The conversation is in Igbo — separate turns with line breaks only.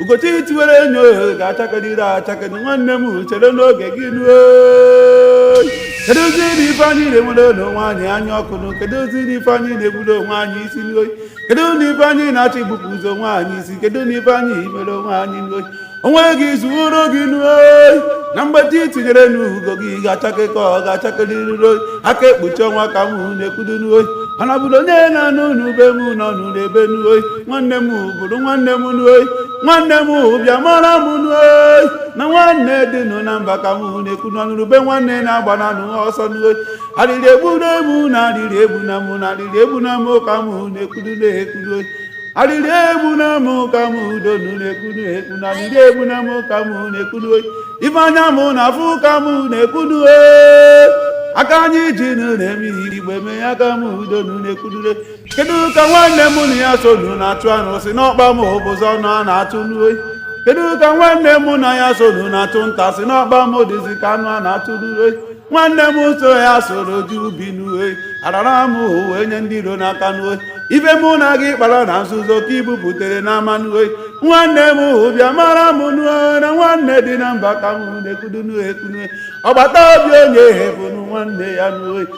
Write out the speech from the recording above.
ugo chi tiwere onye ga-achakerịrị achake nwanne m chere nụ oge gị nụ o keduzi nụ ife anyị na-enwere onwe anyị anya ọkụ nụ keduzi nụ ife anyị na-egburu onwe anyị isi n'oyi kedu nụ ife anyị na-achọ igbupụzi onwe anyị isi kedu nụ ife anyị mere onwe anyị n'oyi onwe gị zuoro gị n'oyi na mgbe chi tinyere na ugo gị ga-achake ka ọ ga-achakerịrị oyi aka ekpuchi ọnwa ka m na-ekwudo n'oyi mana bụrụ onye na-anụ n'ube m nọ nụ n'ebe n'oyi nwanne m bụrụ nwanne m n'oyi nwanne m bịa mara m n'oyi na nwanne dị nụ na mba ka m na-ekwu na ọ nụrụ ube nwanne agbana nụ ọsọ n'oyi arịrị egbuna mụ na arịrị egbuna mụ na arịrị egbuna mụ ka m na-ekwudo na-ekwudo oyi arịrị egbuna mụ ka m udo nụ na-ekwu na-ekwu na arịrị egbuna mụ ka m na-ekwu n'oyi ife anya mụ na-afụ ka m na-ekwu n'oyi aka anyị ji nụ na-eme ihe igbe mee ya ka m udo nụ na-ekwudo kedu ka nwanne m na ya so nu na-achụ anụ sị na ọkpa m abụzị anụ a na-achụ n'oyi kedu ka nwanne m na ya so nu na-achụ nta sị na ọkpa mụ dịzi ka anụ a na-achụ n'oyi nwanne m na ya soro jee ubi n'oyi arara m wee nye ndị iro n'aka n'oyi ife mụ na gị kpara na nzuzo ka i buputere n'ama n'oyi nwanne mụ bịa mara m nụ o na nwanne dị na mba ka m na-ekwudo n'oyi ekwu nụ e agbata obi onye bụ nụ nwanne ya n'oyi